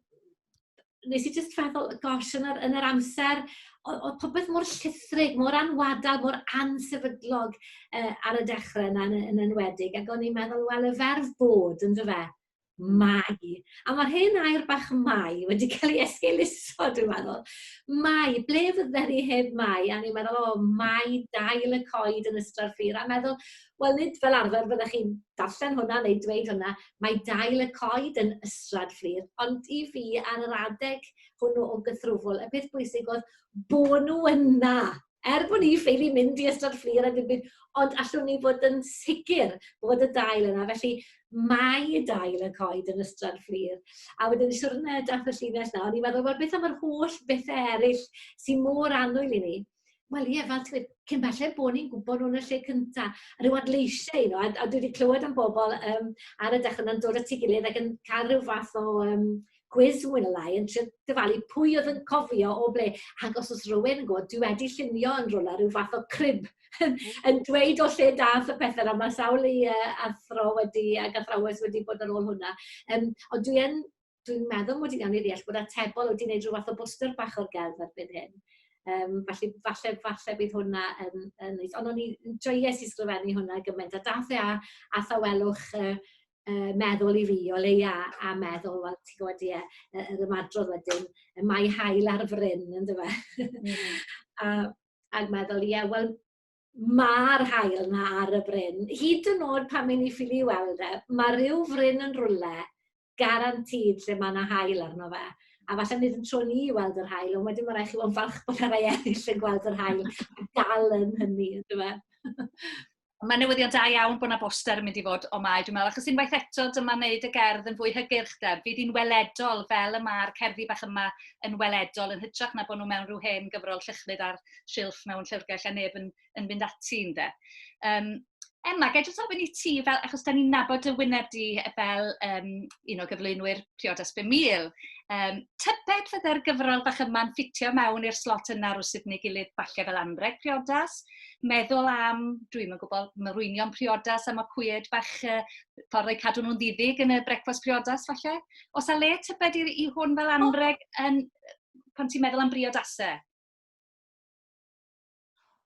nes i jyst feddwl, gosh, yn yr, yn yr amser, oedd popeth mor llithrig, mor anwadal, mor ansefydlog uh, ar y dechrau yna yn, yn enwedig. Ac o'n i'n meddwl, wel, y ferf bod, yn fe? Mae. A mae'r hen air bach 'mae' wedi cael ei esgeuluso dwi'n meddwl. Mae, ble fydden ni heb Mae? A o'n i'n meddwl, o, Mae dail y coed yn Ystrad Fur. A meddwl, wel, nid fel arfer fyddech chi'n darllen hwnna neu dweud hwnna, mae dail y coed yn Ystrad Fur. Ond i fi, ar yr adeg hwnnw o gythrwfl, y peth bwysig oedd bod nhw yna. er bod ni ffili mynd i ystod fflir a dim byd, ond allwn ni fod yn sicr bod y dail yna. Felly mae y dail yn coed yn ystod fflir. A wedyn y siwrne dath y llinell na, o'n i'n meddwl, wel, beth am yr holl bethau eraill sy'n môr annwyl i ni? Wel ie, fel ti'n gweud, cyn belled bod ni'n gwybod nhw'n y lle cynta. A rhyw adleisiau, you know, a, a dwi wedi clywed am bobl um, ar y dechrau yna'n dod at ei gilydd ac yn cael rhyw fath o um, cwis mwy neu lai yn trio dyfalu pwy oedd yn cofio o ble. Ac os oes rhywun yn gwybod, dwi wedi llunio yn rhywle rhyw fath o crib yn yn dweud o lle daeth y pethau 'na. Mae sawl i yy athro wedi ac athrawes wedi bod ar ôl hwnna. Yym, ond dwi yn... dwi'n meddwl mod i'n iawn i ddeall bod Atebol wedi wneud rhyw fath o bwstwr bach o'r gelf erbyn hyn. Yym, felly falle falle bydd hwnna yn yn neis. Ond o'n i... joies i sgrifennu hwnna gymaint, a daeth e â â thawelwch yy yy meddwl i fi o leia a meddwl wel ti gwbod ie yy yr ymadrodd wedyn y mae haul ar fryn yndyfe? Hmm. a ag meddwl ie wel ma'r haul 'na ar y fryn hyd yn o'd pan mae'n 'i ffili weld e ma' ryw fryn yn rwle garantid lle ma' 'na haul arno fe a falle nid yn tro ni i weld yr haul ond wedyn ma' rai' chi fo' yn falch bod 'na rai eryll yn gweld yr haul a dal yn hynny yndyfe? Mae newyddion da iawn bod yna boster yn mynd i fod o Mai, dwi'n meddwl, achos unwaith eto, dyma wneud y gerdd yn fwy hygyrch, de. Fydd hi'n weledol, fel y mae'r cerddi bach yma yn weledol, yn hytrach na bod nhw mewn rhyw hen gyfrol llychlyd ar silff mewn llyfrgell a neb yn, yn fynd ati, de. Um, Emma, gael jyst ofyn i ti, fel, achos da ni'n nabod y wyneb di fel um, un o gyflwynwyr Priodas 5000, um, tybed fydde'r gyfrol bach yma'n ffitio mewn i'r slot yna rwy'n sydd neu gilydd falle fel anreg Priodas? meddwl am, dwi'm yn gwybod, mireinio priodas a macwyed bach, yy ffordd o'u cadw nhw'n diddig yn y brecwast priodas falle. Oes 'na le tybed i i hwn fel anrheg yn... pan ti'n meddwl am briodasau?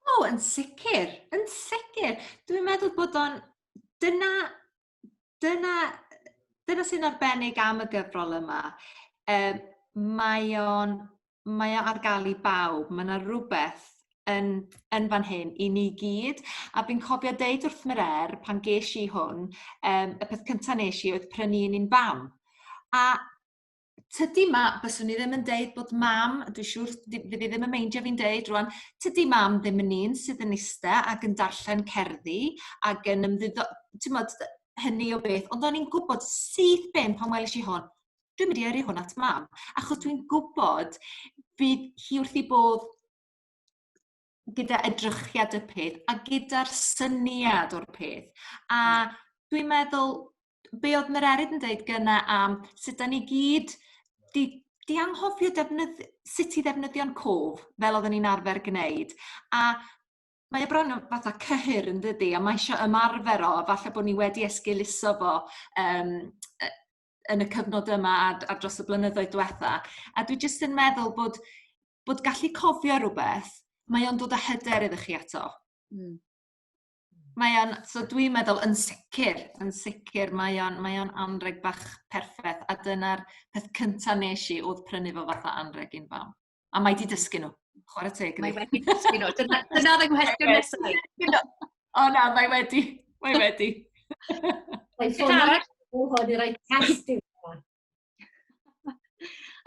O, yn sicr, yn sicr. Dwi'n meddwl bod o'n... dyna dyna dyna sy'n arbennig am y gyfrol yma yy mae o'n mae o ar ga'l i bawb ma' 'na rwbeth yn yn fan hyn i ni gyd a fi'n cofio deud wrth Mere'r pan gesh i hwn yym y peth cynta nesh i oedd prynu un i'n fam a tydi ma'... Byswn i ddim yn deud bod mam dwi siŵr ddi- fydd 'i ddim yn meindio fi'n deud rŵan tydi mam ddim yn un sydd yn iste ac yn darllen cerddi ag yn ymddiddor- t'mod yy hynny o beth ond o'n i'n gwbod syth bin pan welish i hon dwi'n mynd i yrru hwn at mam achos dwi'n gwbod bydd hi wrth 'i bodd gyda edrychiad y peth a gyda'r syniad o'r peth a dwi'n meddwl be oedd Mererid yn deud gyna am sut 'dan ni gyd 'di 'di anghofio defnydd- sut i ddefnyddio'n cof fel odden ni'n arfer gneud a mae o bron yn fatha cyhyr yndydi a mae eisio ymarfer o a falle bo' ni wedi esgeuluso fo yym yy yn y cyfnod yma a d- a dros y blynyddoedd dwetha a dwi jyst yn meddwl bod bod gallu cofio rwbeth mae o'n dod â hyder iddo chi eto. Hmm. Mae o'n, so dwi'n meddwl yn sicr, yn sicr, mae o'n mae o'n anreg bach perffaith, a dyna'r peth cynta nes i oedd prynu fo fatha anreg i'n fam. A mae 'di dysgu nhw, chwarae teg Mae wedi dysgu nhw, dyna dyna oedd yng nghwestiwn nesaf O na, mae wedi, mae wedi. Mae'n ffordd arall o hwn i roi test i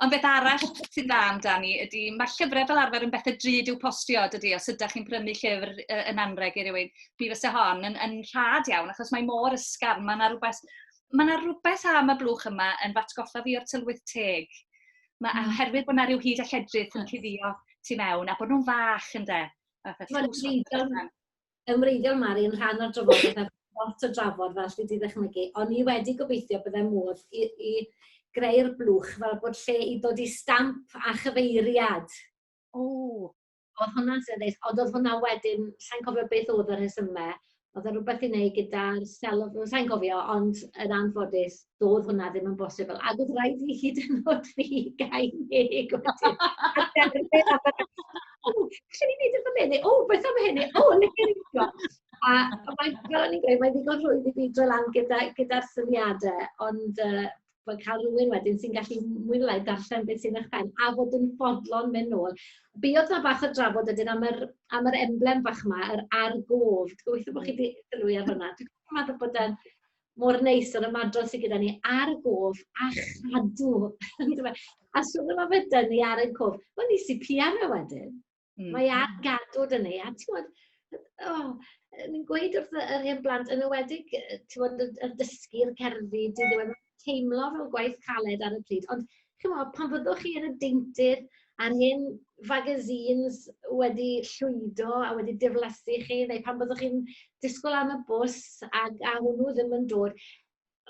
Ond beth arall sy'n dda amdani ydy, mae'r llyfrau fel arfer yn bethau drud i'w postio, dydy, os ydych chi'n prynu llyfr yn anreg i rywun, mi fysa hon yn, yn rhad iawn, achos mae mor ysgafn, mae yna rhywbeth, mae yna rhywbeth am y blwch yma yn fatgoffa fi o'r tylwyth teg. Mae, mm. oherwydd bod yna rhyw hyd a lledrith yn cuddio tu mewn, a bod nhw'n fach, ynde? Mae'n yn wreiddiol Mari yn rhan o'r drafodaeth a lot o drafod fel chi 'di ddychmygu, ond ni wedi gobeithio bydde modd i i greu'r blwch fel bod lle i ddod i stamp a chyfeiriad. O! Oedd hwnna'n sy'n neis, ond oedd hwnna wedyn, sa'n cofio beth oedd y rhesymau, oedd e rhywbeth i wneud gyda'r celf, sa'n cofio, ond yn anffodus, doedd hwnna ddim yn bosibl. Ac oedd rhaid i fi hyd yn oed fi gael deg o ti. Lle ni'n neud y fan hyn? O, beth am hyn? O, le gen i A mae, fel o'n i'n gweud, mae'n ddigon rhwydd i fi droi lan gyda'r gyda syniadau, ond uh, bod cael rhywun wedyn sy'n gallu mwy neu lai darllen beth sy'n eich pen, a fod yn fodlon mynd nôl. Be oedd na bach o drafod ydyn am yr, am yr emblem bach yma, yr argof. Gobeithio bod chi wedi sylwi ar hwnna. Dwi'n meddwl bod e'n mor neis yr ymadrodd sy gyda ni ar y gof a chadw yndyfe? A sôn am ofyder ni ar y cof, wel ni sy piano wedyn. Mm. Mae ar gadw dyn ni, a ti'n gwybod, oh, ni'n gweud wrth yr hen blant, yn ywedig, ti'n gwybod, y dysgu'r cerddi, dyn nhw'n teimlo fel gwaith caled ar y pryd, ond chimod, pan fyddwch chi yn y deintydd a'r hen fagazines wedi llwydo a wedi diflasu chi, neu pan fyddwch chi'n disgwyl am y bws ac a hwnnw ddim yn dod,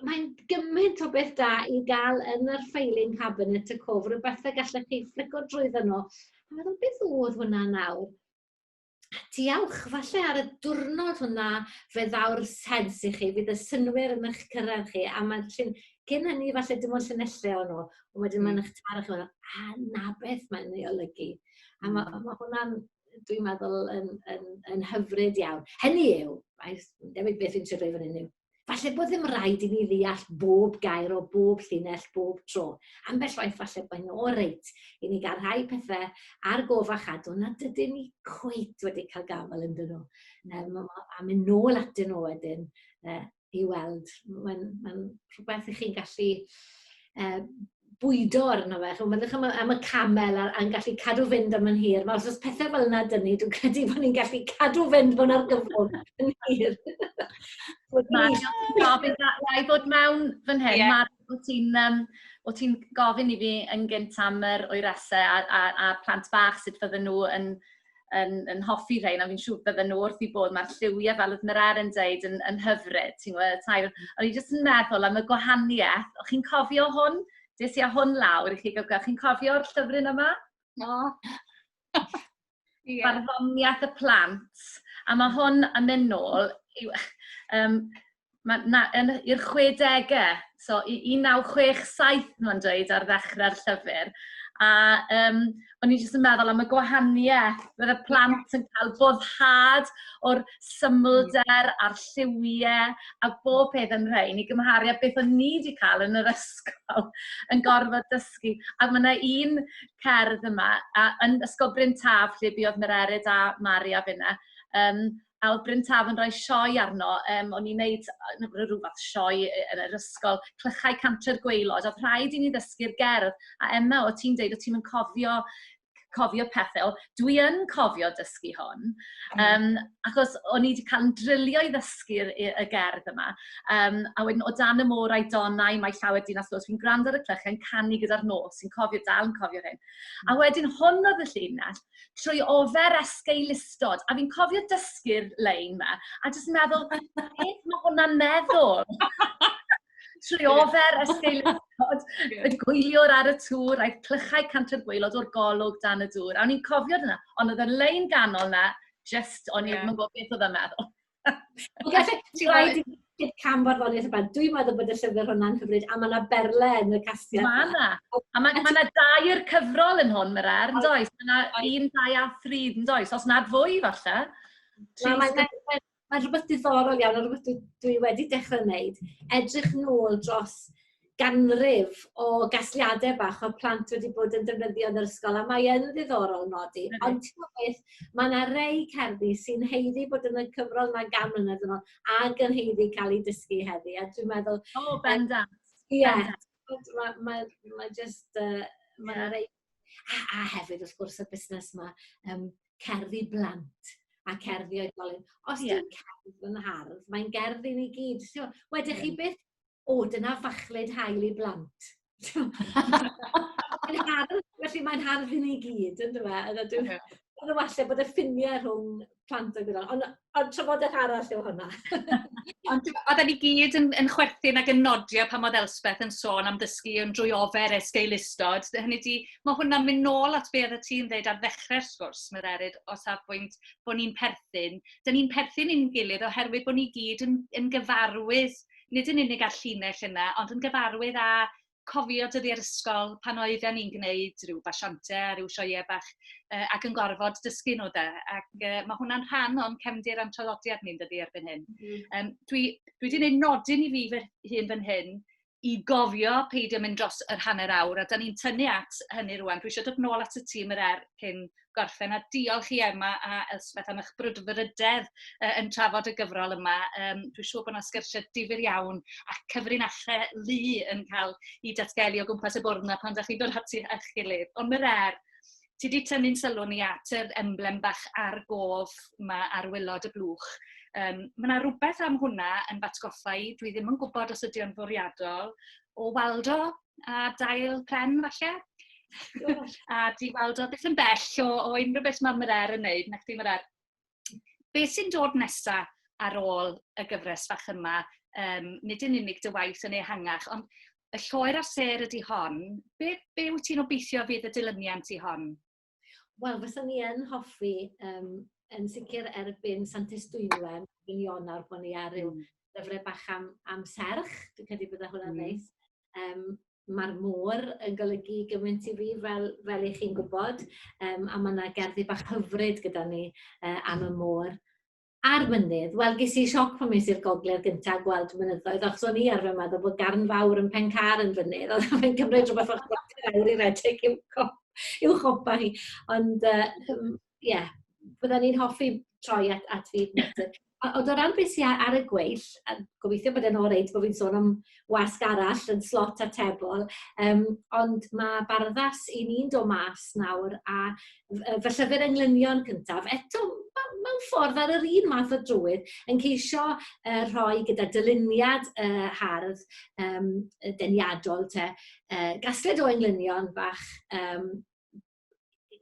mae'n gymaint o beth da i gael yn yr filing cabinet y cwfr, rywbeth y gallech chi fflico drwyddo nhw a meddwl, "beth oedd hwnna nawr?" Diolch. Falle ar y diwrnod hwnna fe ddaw'r sens i chi, fydd y synnwyr yn eich cyrraedd chi a ma'n llun... Cyn hynny falle dim ond llinelle o'n nw. A wedyn ma'n eich taro chi me'wl a 'na beth mae'n ei olygu. A ma' ma' hwnna'n dwi'n meddwl yn yn yn hyfryd iawn. Hynny yw, mae s- dim ond beth fi'n trio dweud fan 'yn yw Falle bod ddim rhaid i ni ddeall bob gair o bob llinell bob tro. Ambell waith falle bod nhw o reit i ni gael rhai pethau ar gof a chadw na dydyn ni cweit wedi cael gafael yn dyn nhw. Um, a mynd nôl at dyn nhw wedyn uh, i weld. Mae'n ma rhywbeth i chi'n gallu uh, bwydo arno fe. Ch'mo' meddyliwch am y am y camel a'r a'n gallu cadw fynd am yn hir. Nawr os o's pethe fel 'na 'da ni dwi'n credu bo' ni'n gallu cadw fynd mewn argyfwng yn hir. Wel ma' gofyn a- wnâi ddod mewn fan hyn... Ie. ...Mari o' ti'n yym o' ti'n gofyn i fi yn gynt am yr oerese a a a'r plant bach sut fydden nhw yn yn yn hoffi rhein, a fi'n siŵr bydden nhw wrth eu bodd. Mae'r lliwiau, fel oedd Mireille yn dweud, yn yn hyfryd, ti'n gwybod, y tair. O'n i jyst yn meddwl am y gwahaniaeth. O'ch chi'n cofio hwn? Des i â hwn lawr i chi gael gweld. Chi'n cofio'r llyfryn yma? No. Ie. Barddoniaeth y plant. A mae hwn yn mynd nôl yw, um, ma, na, yn, i'r 60au, so i 1967 nhw'n dweud ar ddechrau'r llyfr. A um, o'n i jyst yn meddwl am y gwahaniaeth, bydd y plant yn cael boddhad o'r symlder a'r lliwiau a bob peth yn rhain i gymharu â beth o'n ni wedi cael yn yr ysgol yn gorfod dysgu. A mae yna un cerdd yma, a, yn Ysgol Bryn Taf, lle buodd Mererid a Mari a finna, um, A oedd Bryn Taf yn rhoi sioe arno. Yym, o'n i'n wneud n- r- ryw fath o sioe yy yn yr ysgol, Clychau Cantre'r Gwaelod. Oedd rhaid i ni ddysgu'r gerdd. A Emma, o't ti'n deud o't ti'm yn cofio cofio pethe. Wel, dwi yn cofio dysgu hon, yym, achos o'n i 'di cael 'yn drilio i ddysgu'r yy y gerdd yma. Yym, a wedyn, "O dan y môr a'i donnau, mae llawer dinas los". Fi'n gwrando ar y clychau'n canu gyda'r nos, fi'n cofio, dal yn cofio'r hyn. A wedyn hwn oedd y llinell. trwy ofer esgeu listod. A fi'n cofio dysgu'r lein ma, a jyst meddwl, beth mae hwnna'n meddwl? trwy ofer esgeu listod, y gwyliwr ar y tŵr, aeth clychau canter gweilod o'r golwg dan y dŵr. A o'n i'n cofio dyna, ond oedd y lein ganol na, just, o'n i'n yeah. gwybod beth oedd yma. Ti'n rhaid i Cyd cam farddoniaeth y band. Dwi'n meddwl bod y llyfr hwnna'n hyfryd, a mae yna berle yn y castia. Mae yna. A mae yna dair cyfrol yn hwn, mae'r ar, yn does? Mae yna un, dau a thri, yn does? Os nad fwy, falle. Mae mae, mae, mae rhywbeth diddorol iawn, a rhywbeth dwi, dwi wedi dechrau wneud, edrych nôl dros ganrif o gasgliade bach o'dd plant wedi bod yn defnyddio yn yr ysgol a mae yn ddiddorol nodi ond t'mod beth ma' 'na rei cerddi sy'n haeddu bod yn y cyfrol 'ma gan mlynedd yn ôl ag yn haeddu ca'l 'u dysgu heddi a dwi'n meddwl... O bendant. ...ie t'mod ma' ma' ma' jyst yy ma' 'na rei a a hefyd wrth gwrs y busnes 'ma yym cerddi blant a cerddi oedolyn. Os 'di cerdd yn hardd mae'n gerdd i ni gyd t'mo' wedech chi byth o dyna fachlud haul i blant. Mae'n hardd, felly mae'n hardd i ni gyd, yn dyw e? Ond ydw, ond falle bod y ffiniau rhwng plant a gwydol. Ond ond trafodaeth arall yw hwnna. ond oedden ni gyd yn, yn chwerthin ac yn nodio pan oedd Elspeth yn sôn am ddysgu yn drwy ofer es geilustod. Hynny di, mae hwnna'n mynd nôl at be oedd y ti'n dweud ar ddechrau'r sgwrs, mae'r erid o safbwynt bod ni'n perthyn. Dyna ni'n perthyn i'n gilydd oherwydd bod ni gyd yn, yn gyfarwydd nid yn unig â'r llinell yna, ond yn gyfarwydd â cofio dyddiau'r ysgol pan oedden ni'n gwneud rhyw basiantau a rhyw sioeau bach uh, ac yn gorfod dysgu nhw da. Ac uh, mae hwnna'n rhan o'n cefndir a'n traddodiad ni'n dydi erbyn hyn. Mm -hmm. um, dwi, dwi wedi gwneud nodyn i fi fy hun fan hyn i gofio peidio mynd dros yr hanner awr, a da ni'n tynnu at hynny rwan. Dwi eisiau dod nôl at y tîm yr er cyn gorffen a diolch i Emma a Elspeth am eich brwdfrydedd uh, yn trafod y gyfrol yma. Um, dwi'n siŵr bod yna sgyrsiau difyr iawn a cyfrinachau lu yn cael i datgelu o gwmpas y bwrdd yna pan da chi'n dod ati a'ch gilydd. Ond mae'r er, ti wedi tynnu'n sylw ni at yr emblem bach ar gof yma ar wylod y blwch. Um, mae yna rhywbeth am hwnna yn batgoffa i, dwi ddim yn gwybod os ydy o'n fwriadol, o weld o a dail pren falle. a di weld o beth yn bell o, o unrhyw beth mae Marer yn neud, na chdi Marer. Be sy'n dod nesa ar ôl y gyfres fach yma, um, nid yn unig dy waith yn ehangach, ond y lloer a ser ydy hon. Be, be wyt ti'n obeithio fydd y dilyniant i hon? Wel fysa ni yn hoffi yym yn sicir erbyn Santes Dwynwen yn Ionawr bo' ni ar ryw gyfre bach am am serch dwi credu bydda hwnna'n neis. Yym ma'r môr yn golygu gymaint i fi fel fel 'ych chi'n gwbod yym a ma' 'na gerddi bach hyfryd gyda ni yy am y môr. ar fynydd, wel ges i sioc pan es i'r gogledd gynta' a gweld mynyddoedd, achos o'n i arfer meddwl bod Garn Fawr yn Pen-car yn fynydd, ond mae'n cymryd rhywbeth fel chwarter awr i redeg i'w cop- i'w chopa hi. Ond yy yym ie, bydden i'n hoffi troi at at fyd natur. A ond o ran be' sy a- ar y gweill, a gobeithio bod e'n oreit bo' fi'n sôn am wasg arall yn slot atebol, yym, ond ma' barddas 'yn ni'n do' mas nawr a f- yy fy llyfyr englynion cyntaf, eto ma' mewn ffordd ar yr un math o drywydd yn ceisio yy rhoi gyda dyluniad y hardd yym y deniadol 'te yy gasgliad o englynion bach yym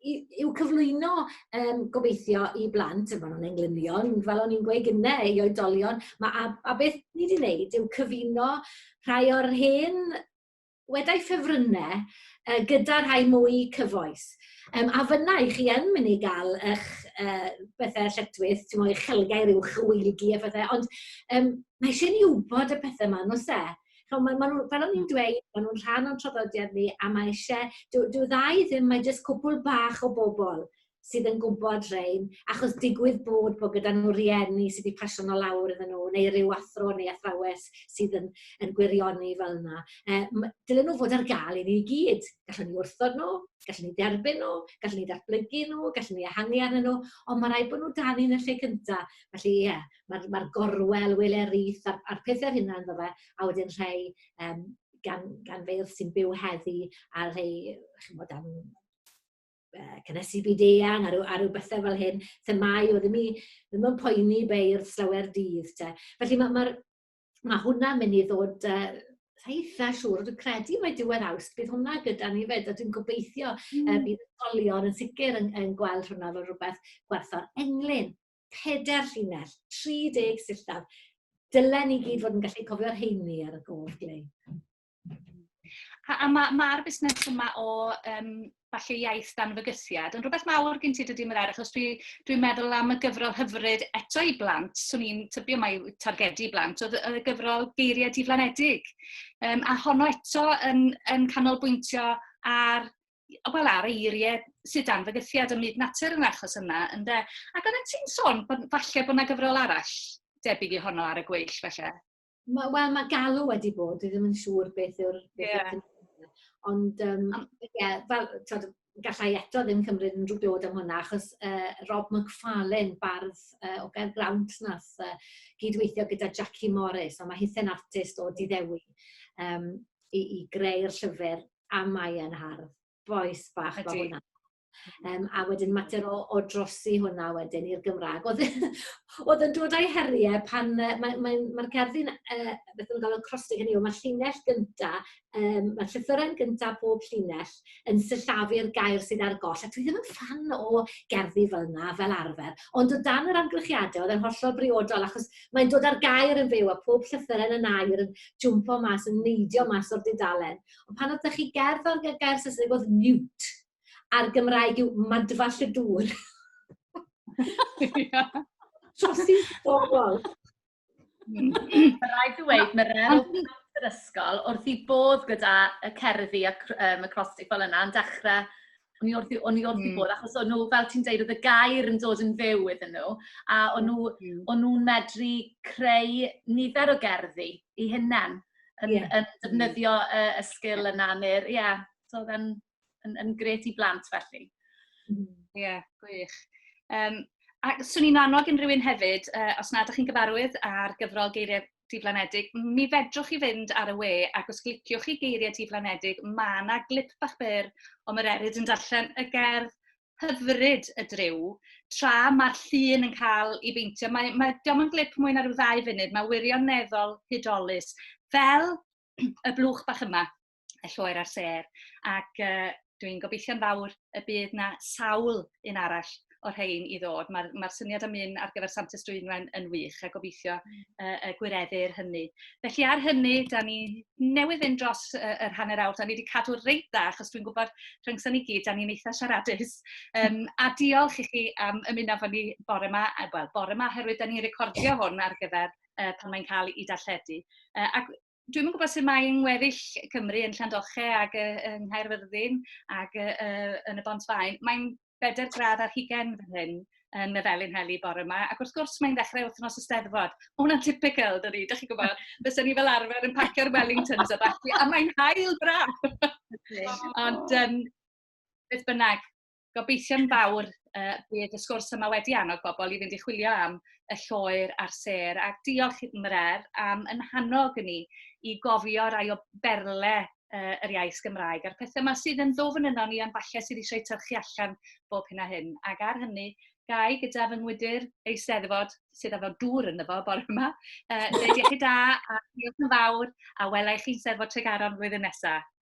i- i'w cyflwyno yym gobeithio i blant, a ma' nw'n englynion, fel o'n i'n gweud gynne, i oedolion, ma' a a beth ni 'di neud yw cyfuno rhai o'r hen wedai ffefrynne yy gyda rhai mwy cyfoes. Yym a fynna 'ych chi yn myn' i ga'l 'ych yy pethe lletchwith, t'mo' eich celgair uwch y wyneb-cu a phethe, ond yym mae isie ni wbod y pethe 'ma on'd o's e? Ch'mo' ma' ma' nhw... fel o'n i'n dweud, ma' nhw'n rhan o'n traddodiad ni a mae isie... Dyw dyw ddau ddim, mae jyst cwpwl bach o bobl sydd yn gwybod rhein, achos digwydd bod bod gyda nhw rieni sy 'di pasio nhw lawr iddyn nhw, neu ryw athro neu athrawes sydd yn yn gwirioni fel 'na. Yy m- dylen nhw fod ar gael i ni i gyd. Gallwn ni wrthod nhw, gallwn ni dderbyn nhw, gallwn ni ddatblygu nhw, gallwn ni ehangu arnyn nhw, ond ma' raid bod nhw 'da ni yn y lle cynta. Felly, ie. ma'r ma'r gorwel wele'r reith a'r a'r pethe fyn 'na on'd yfe? A wedyn rhei yym gan gan feirdd sy'n byw heddi a rhei ch'mod am yy cynnesu byd eang a ryw a ryw bethe fel hyn, themâu odd 'im i ddim yn poeni beirdd llawer dydd 'te. Felly ma' ma'r ma' hwnna'n myn' i ddod yy sa i itha siŵr dwi credu mae diwedd Awst bydd hwnna gyda ni 'fyd a dwi'n gobeithio... Hmm. ...yy bydd ysgolion yn sicir yn yn gweld hwnna fel rwbeth gwerthfawr. Englyn. pedair llinell, 30 sillaf. Dylen ni gyd fod yn gallu cofio'r heini ar y gof glei. A, a mae'r ma, ma busnes yma o um, falle iaith dan fygythiad yn rhywbeth mawr gen ti dydy Merair, achos dwi'n dwi, meddwl am y gyfrol hyfryd eto i blant, swn i'n tybio mai targedu blant, oedd y gyfrol geiriau diflanedig. Um, a honno eto yn, yn canolbwyntio ar wel, ar eiriau sydd dan fygythiad ym myd natur yn achos yma, ynde? Ac oeddet ti'n sôn bod, falle bod yna gyfrol arall debyg i honno ar y gweill, felly? Wel, ma, ma galw wedi bod, dwi ddim yn siŵr beth yw'r... Yeah. Ond, um, yeah, fel, tod, gallai eto ddim cymryd unrhyw dod am hwnna, achos uh, Rob McFarlane, bardd uh, o gael Grawnt, nath uh, gydweithio gyda Jackie Morris, a mae hithau'n artist o Diddewi, um, i, i greu'r llyfr A mae yn hardd. Bois bach fel hwnna. Ydi. Yym a wedyn mater o o drosi hwnna wedyn i'r Gymrag. O'dd e o'dd yn dod a'i herie pan yy mae mae'n ma'r gerddi'n yy beth o'n galw'n crossing hynny yw ma'r llinell gynta yym ma'r llythyren gynta pob llinell yn sillafu'r gair sydd ar goll a dwi ddim yn ffan o gerddi fel 'na fel arfer. Ond o dan yr amgylchiade o'dd e'n hollol briodol achos mae'n dod â'r gair yn fyw a pob llythyren yn air yn jwmpo mas yn neidio mas o'r dudalen. Ond pan oedd 'da chi gerdd ar gyfer gair Saesneg oedd mute, a'r Gymraeg yw madfall y dŵr. Trosi bobl. Rhaid i weid, mae rhan yr ysgol wrth i bodd gyda y cerddi ac um, y crostig fel yna yn dechrau O'n i wrth fy... o'n i wrth fy modd, achos o'n nhw, fel ti'n deud, oedd y gair yn dod yn fyw iddyn nhw, a o'n nhw... m-hm... o'n nhw'n medru creu nifer o gerddi eu hunain, yn yn defnyddio y y sgil yna, neu'r... ie, so oedd e'n yn yn grêt i blant felly. M-hm. Ie, gwych. Yym, a 'swn i'n annog unrhyw un hefyd, yy, os nad ydych chi'n gyfarwydd â'r gyfrol Geiriau diflanedig, mi fedrwch chi fynd ar y we ac os gliciwch chi geiriau diflanedig, mae yna glip bach byr o mae'r eryd yn darllen y gerdd hyfryd y driw, tra mae'r llun yn cael ei beintio. Mae, mae, diolch yn glip mwy na rhyw ddau funud, mae wirioneddol hudolus, fel y blwch bach yma. y lloer a'r sêr, ac uh, dwi'n gobeithio'n fawr y bydd na sawl un arall o'r rhain i ddod. Mae'r mae syniad am un ar gyfer Santes Dwynwen yn wych a gobeithio uh, y gwireddir hynny. Felly ar hynny, da ni newydd fynd dros uh, yr hanner awr, da ni wedi cadw reit dda, achos dwi'n gwybod rhyngson ni gyd, da ni'n eitha siaradus. Um, a diolch i chi am ymuno fo ni bore yma, wel, bore yma, herwydd da ni'n recordio hwn ar gyfer uh, pan mae'n cael ei darlledu. Uh, ac dwi'm yn gwybod sut mae yng ngweddill Cymru, yn Llandoche ac yy yng Nghaerfyrddin ac yy yy yn y Bontfaen, mae'n bedair gradd ar hugain fan hyn yn y Felin Heli bore yma, ac wrth gwrs mae'n ddechrau wythnos y Steddfod. Ma' hwnna'n typical, dydi, dach chi'n gwybod, fysen ni fel arfer yn pacio'r Wellingtons a ballu, a mae'n haul braf! Ond yym, beth bynnag, Gobeithio'n fawr uh, bydd y sgwrs yma wedi annog bobl i fynd i chwilio am y lloer a'r ser. A diolch i'r Mrer am yn hannog ni i gofio rai o berle uh, yr iaith Gymraeg a'r pethau yma sydd yn ddofn yno ni ond falle sydd eisiau tyrchu allan bob hyn a hyn. Ac ar hynny, gai gyda fy ngwydr eisteddfod sydd efo dŵr yn efo bore yma, uh, dweud iechyd da a diolch yn fawr a welai chi'n Steddfod Tregaron flwyddyn nesaf.